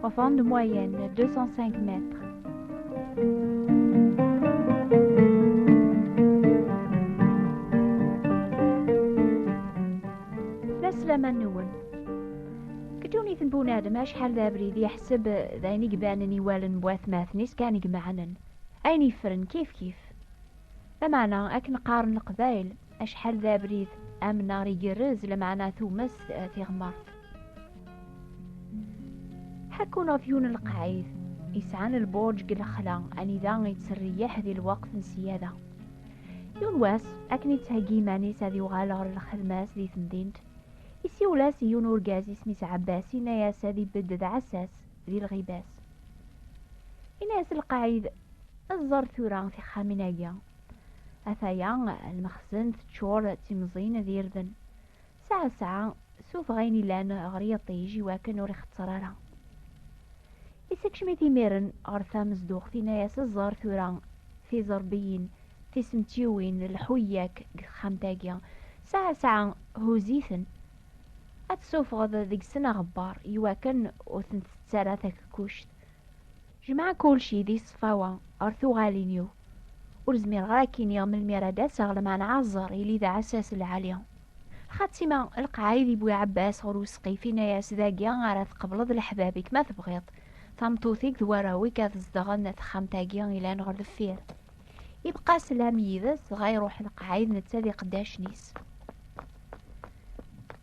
Profonde moyenne, 205 mètres. Ddunit n Bun Adem acḥal d abrid yeḥseb d ayen i ibanen i wallen n watmaten-is kan i imeɛnen. Ayen yeffren kif kif. Lameɛna akken qqaren leqbayel, Acḥal d abrid amnar igerrez lameɛna tumast eh, tiɣmert. Ḥekkun ɣef yiwen n lqaɛid yesɛan lbuṛǧ deg lexla anida yettreyyiḥ di lweqt n ssiyada. Yiwen wass, akken yettheggi iman-is ad yuɣal ɣer lxedma-s di temdint, isiwel-as i yiwen urgaz isem-is Ɛebbas yenna-as ad ibedd d ɛessas di lɣiba-s. Yenna-as lqaɛid, Ẓer tura tixxamin-agi, Ataya lmexzen teččur d timẓin d irden. Saɛa saɛa, sufeɣ ayen ilan ɣer yiṭij i wakken ur ixetter ara. Issekcem-it imiren ɣer tamezduɣt, inna-as, Ẓer tura tiẓerbiyin, tisemtiwin, lḥu-yak deg texxamt-agi. Saɛa saɛa, huzz-iten. Ad tesufɣeḍ deg-sen aɣebbar, i wakken ur ten-tettu ara takekkuct. Jemɛeɣ kulci di ṣṣfawa ɣer tuɣalin-iw. Ur zmireɣ ara k-iniɣ melmi ara d-aseɣ lmeɛna aẓer yili d aɛessas lɛali. Xaṭi ma lqaɛ i d-iwwi Ɛebbas ɣer usqif inna-yas dagi ara tqebleḍ leḥbab-ik ma tebɣiḍ tameṭṭut-ik d warraw-ik ad zedɣen texxamt-agi ilan ɣer deffir. Ibqa slam yid-s dɣa iruḥ lqaɛ id netta d iqeddacen-is.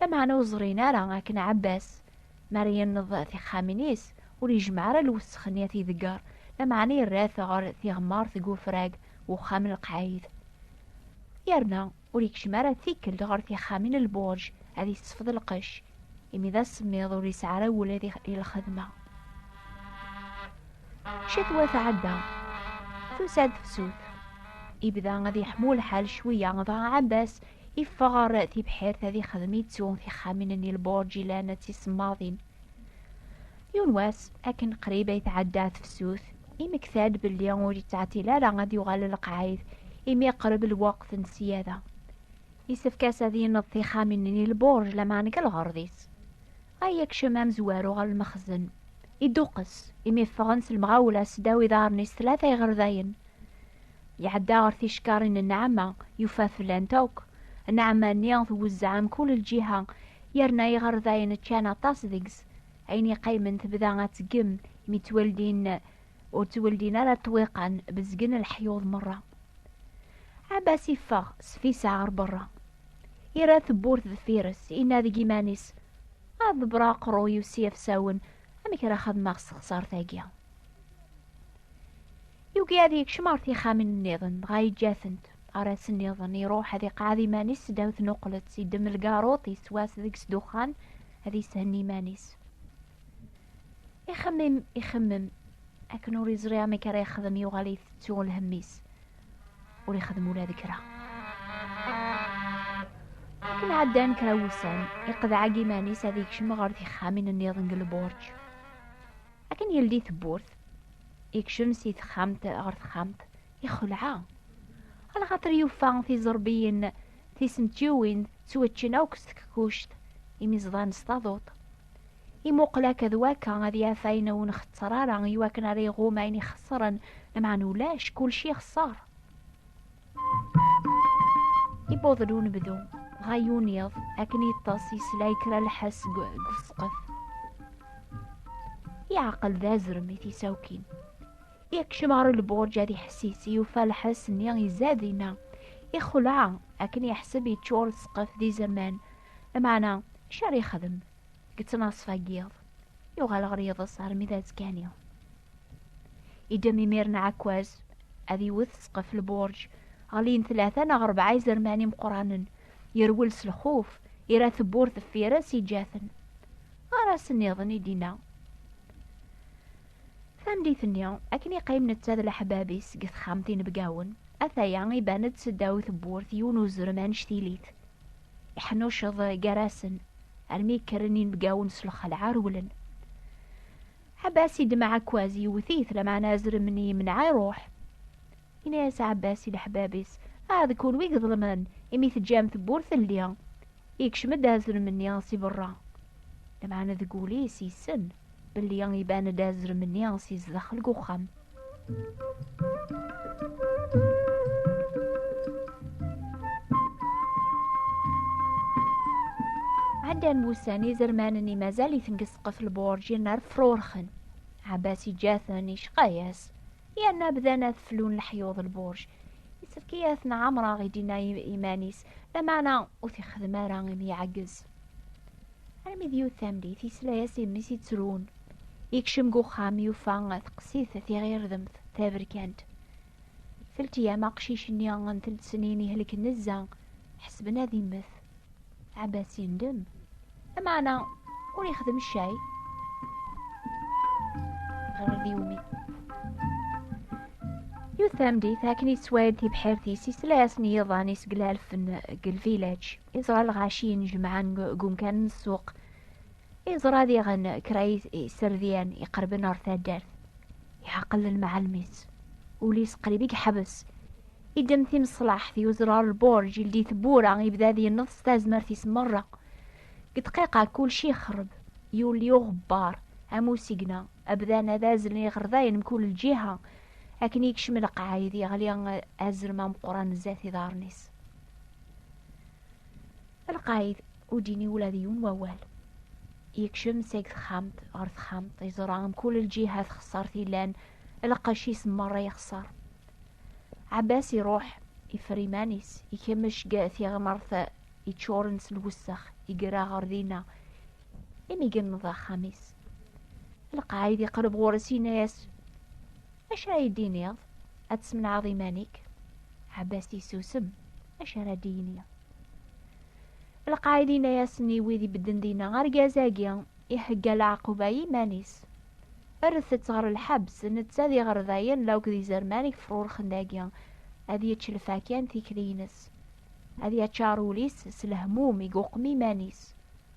Lameɛna ur ẓrin ara akken Ɛebbas mi ara yenneḍ tixxamin-is ur yejmeɛ ara lwesxen i t-idegger, lameɛna yerra-t ɣer tiɣmert deg ufrag n uxxam n lqayed. Yerna ur yekcem ara tikkelt ɣer tixxamin n lbuṛj ad yessefḍ lqecc, imi d asemmiḍ ur yesɛi ara ula d i lxedma. Ccetwa tɛedda, tusa-d tefsut. Ibda ad yeḥmu lḥal cwiya, dɣa Ɛebbas Iffeɣ ɣer tibḥirt ad ixdem ittu tixxamin-nni lburǧ ilan d tisemmaḍin. Yiwen wass, akken qrib ay tɛedda tefsut, imekta-d belli ur yettɛetil ara ad yuɣal lqaɛid imi iqreb lweqt n ssiyada. Yessefk-as ad yenneḍ tixxamin-nni lburǧ lameɛna deg lɣerḍ-is. Ay akcem amezwaru ɣer lmexzen. Iduqqes, imi ffɣen s lemɣawla sdaw iḍarren-is tlata iɣerdayen. Iɛedda ɣer tickarin n Nɛama, yufa flant akk. Nɛama-nni twezzeɛ mkul lǧiha, yerna iɣerdayen ččan aṭas deg-s. Ayen iqqimen tebda ad tgem, mi ttweldin ur ttweldin ara ṭṭwiqan, bezgen leḥyuḍ merra. Ɛabas iffeɣ s fisa ɣer berra. Ira tewwurt deffir-s, inna deg iman-is, ad ḍebreɣ aqerru-iw s yafsawen, amek ara xedmeɣ s texsart-agi? Yugi ad yekcem ɣer tixxamin nniḍen, dɣa yeǧǧa-tent. Ar ass nniḍen, iruḥ ad iqɛed iman-is ddaw tnuqlet, iddem lgaruṭ, yeswas deg-s ddexxan, ad yeshenni iman-is. Ixemmem, ixemmem, akken ur yeẓri amek ara yexdem yuɣal itettu lhemm-is. ur ixeddem ula d kra akken ɛeddan kra wussan iqedɛag iman-is ad ikcem ɣer tixxamin nniḍen deg lburǧ akken yeldi tewwurt ikcem si texxamt ɣer texxamt ixelɛa alxaṭer yufa tiẓerbiyin tisentjiwin ttwaččen akk s tkekuct imiẓḍan s taduṭ imuqel akka d waka ad yaf ayen ur nxetter ara iwakken ara iɣum ayen ixeṣren lameɛna ulac kulci ixeṣer iwweḍ-d unebdu dɣa yuniḍ akken yeṭṭes yesla i kra lḥess deg usqef yeɛqel d azrem i tisawkin yekcem ɣer lburǧ ad iḥessis yufa lḥess-nni izad dinna ixleɛ akken yeḥseb yeččur ssqef d izerman lameɛna acu ara yexdem Yettnaṣfa yiḍ, yuɣal ɣer yiḍes armi d azekani. Idem imiren ɛekkaz, ad iwet sqef lburǧ, ɣlin tlata neɣ rebɛa izerman imeqqranen, yerwel s lxuf, ira tewwurt deffir-s iǧǧa-ten. Ɣer asen-iḍen i d-inna. Tandit-nni, akken iqqim netta d leḥbab-is deg texxamt inebgawen, ataya iban-d seddaw tewwurt yiwen uzrem anect-ilit, Iḥnuceḍ gar-asen, armi kkren inebgawen s lxelɛa rewlen. Ɛebbas i d-mɛakkaz yewwet-it, lameɛna azrem n yimneɛ iruḥ. Yenna-as Ɛebbas i leḥbab-is, Ah, d kunwi i iḍelmen, imi teǧǧam tewwurt telli! Yekcem-d azrem-nni si berra, lameɛna deg wul-is yessen. Belli iban-d azrem-nni si zdaxel n uxxam. Ɛeddan wussan izermanen-nni mazal-iten deg ssqef lburǧin ar frurxen. Ɛabbas iǧǧa-ten icqa-yas. Yerna bdan ad flun leḥyuḍ lburj. Yessefk-iyi ad ten-ɛamreɣ i d-yenna iman-is, lameɛna ur t-ixeddem ara imi iɛeggez. Armi d yiwet tamlit, yesla-as i mmi-s yettrun. Yekcem deg uxxam, yufa teqsit tiɣirdemt taberkant. Teltiyam aqcic-nni n telt-snin ihelken nezza, ḥesben ad immet. Ɛebbas yendem. Amaɛna ur yexdem ccay. Ɣer d yumi. Yiwet tamdit akken yettwayed tibḥirt-is yesla-asen yiḍan iseglalen deg lvilaǧ. Iẓra lɣaci inejmaɛen deg umkan n ssuq. Iẓra diɣen kra iserdiyen iqerben ɣer taddart. Iɛaqel lmeɛalem-is. Ul-is qrib i yeḥbes. Idem timeṣlaḥt, yuzrar lburj, ildi tewwura, ibda ad yenneḍ s tazmert-is merra. Deg dqiqa, kulci ixreb. Yuli uɣebbar, am usigna, abdan ad azlen iɣerdayen mkul lǧiha. Akken yekcem lqaɛid, yeɣli azrem ameqqran zdat iḍarren-is. lqayed ur d-yini ula d yiwen wawal yekcem seg texxamt ɣer texxamt yeẓra mkul lǧiha texṣer tilan lqac-is merra yexṣer Abbas iruḥ ifer iman-is ikemmec g tiɣmert yeččuren s lwessex igra ɣer dinna imi yenneḍ axxam-is lqaɛid iqreb ɣur-s yenna-as acu ara yi-d-tiniḍ ad tesmenɛeḍ iman-ik ɛabbas yessusem acu ara d-yini lqaɛid yenna-asen i wid ibedden dinna argaz-agi ihegga leɛquba i yiman-is rret-tt ɣer lḥebs netta d iɣerdayen law d izerman yefrurxen dagi ad yečč lfakya n tikli-ines ad yaččar ul-is s lehmum i yuqem iman-is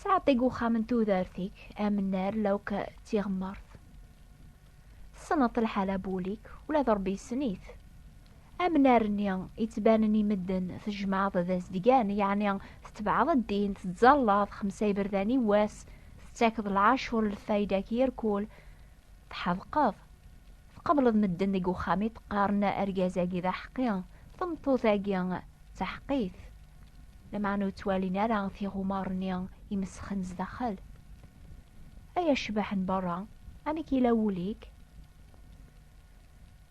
Sɛeddi uxxam n tudert-ik amnar lawk d tiɣemmert. Tessneḍ lḥala bul-ik, ula d Rebbi yessen-it. Amnar-nni yettbanen i medden tejmaɛeḍ d azedgan, yeɛni tetbeɛeḍ ddin, tettẓallaḍ xemsa iberdan i wass, tettakeḍ lɛacur n lfayda-k yir kul, Tḥedqeḍ. Tqableḍ medden deg uxxam i t-qqaren argaz-agi d aḥeqqi, tameṭṭut-agi d taḥeqqit. Lameɛna ur ttwalin ara tiɣumar-nni imesxen zdaxel. Ay acbaḥ n berra, amek yella wul-ik?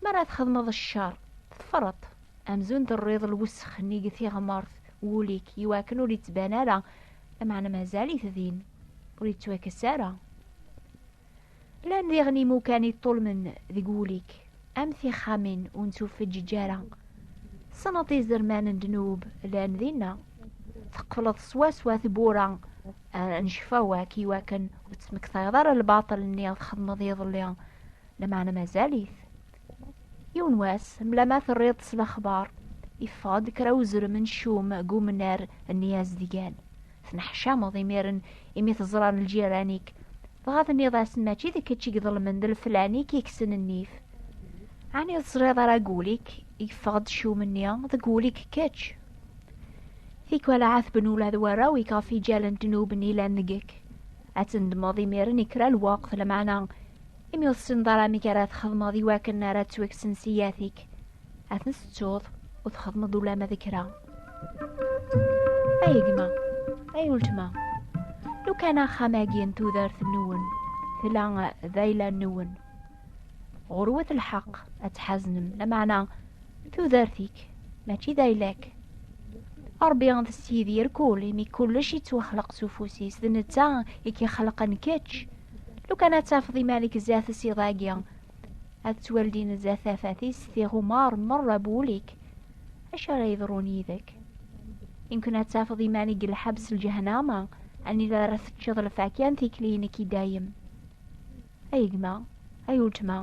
Mi ara txedmeḍ ccer, teffreḍ-t, amzun terriḍ lwessex-nni deg tiɣmert n wul-ik i wakken ur yettban ara, lameɛna mazal-it din, ur yettwakkes ara. Llan diɣen imukan i ṭṭulmen deg wul-ik, am tixxamin ur nettufeǧǧiǧ ara. Tessneḍ izerman n ddnub llan dinna. Teqfleḍ swaswa tewwura n ccfawak i wakken ur tesmektayeḍ ara lbaṭel-nni txedmeḍ iḍelli, lameɛna mazal-it. Yiwen wass, mla ma terriḍ s lexbar, yeffeɣ-d kra uzrem n ccum deg umnar n Yizedgan. Tenneḥcameḍ imiren imi teẓran lǧiran-ik. Dɣa tenniḍ-asen mačči d kečč i iḍelmen d leflan-ik i kksen nnif. Ɛni ur teẓriḍ ara deg wul-ik yeffeɣ-d ccum-nni deg wul-ik kečč? Tikwal ahat tben ula d warraw-ik ɣef iǧal n ddnub-nni yellan deg-k. Ad tendmeḍ imiren i kra lweqt, lmeɛna imi ur tessineḍ ara amek ara txedmeḍ iwakken ara ttwekksen ssiyat-ik. Ad ten-tettuḍ, ur txedmeḍ ulamma d kra. Ay gma, ay weltma, lukan axxam-agi n tudert-nwen tella d ayla-nwen. Ɣurwet lḥeq ad tḥaznem, lameɛna tudert-ik mačči d ayla-k. Ṛebbi d Sidi irkul imi kullec yettwaxleq s ufus-is, d netta i k-ixelqen kečč. Lukan ad tafeḍ iman-ik zdat-s iḍ-agi, ad ttwaldin zdat tafat-is tiɣumar merra bu ul-ik acu ara yeḍrun yid-k imken ad tafeḍ iman-ik deg lḥebs n lǧehnama anida ara teččeḍ lfakya n tikli-inek i dayem ay gma ay weltma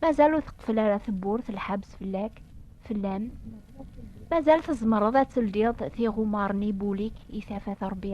mazal ur teqfel ara tewwurt lḥebs fell-ak fell-am mazal tzemreḍ ad teldiḍ tiɣumar-nni bu ul-ik i tafat Rebbi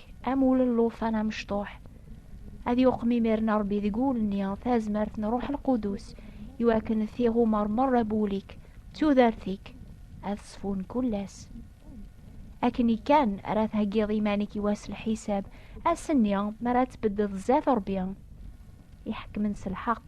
ɣur-k am ul n llufan amecṭuḥ. Ad yuqem imir-n Rebbi deg wul-nni tazmert n Ṛuḥ Lqudus, iwakken d tiɣumar meṛṛa n wul-ik d tudert-ik ad ṣfun kull ass. Akken-i kan ara theggiḍ iman-ik i wass lḥisab, ass-nni mi ara tbeddeḍ zdat Ṛebbi, iḥekkmen s lḥeqq.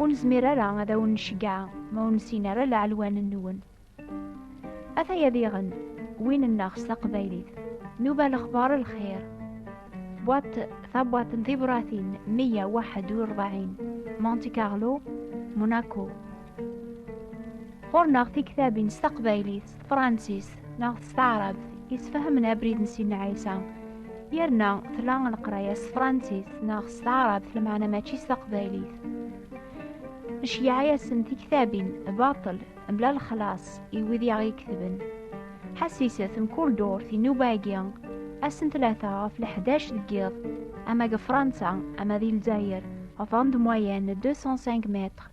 Ur nezmir ara ad awen-nceggeɛ ma ur nessin ara laɛelwan-nwen. Ataya diɣen win-nneɣ s taqbaylit. Nuba lexbar lxir. Bwaṭ tabwaṭ n tibratin 141 Monte Carlo, Monaco. Ɣur-neɣ tiktabin s taqbaylit. Francis neɣ s taɛrabt yesfahamen abrid n Sidna Ɛisa yerna tla leqraya s Francis neɣ s taɛrabt lmeɛna mačči s taqbaylit neceyyeɛ-asen tiktabin baṭel mebla lexlaṣ i wid i aɣ-iketben ḥassiset mkul durt inuba-agi ass n tlata ɣef leḥdac deg yiḍ ama deg Fransa ama di Lezzayer ɣef andemwayen 205 mètres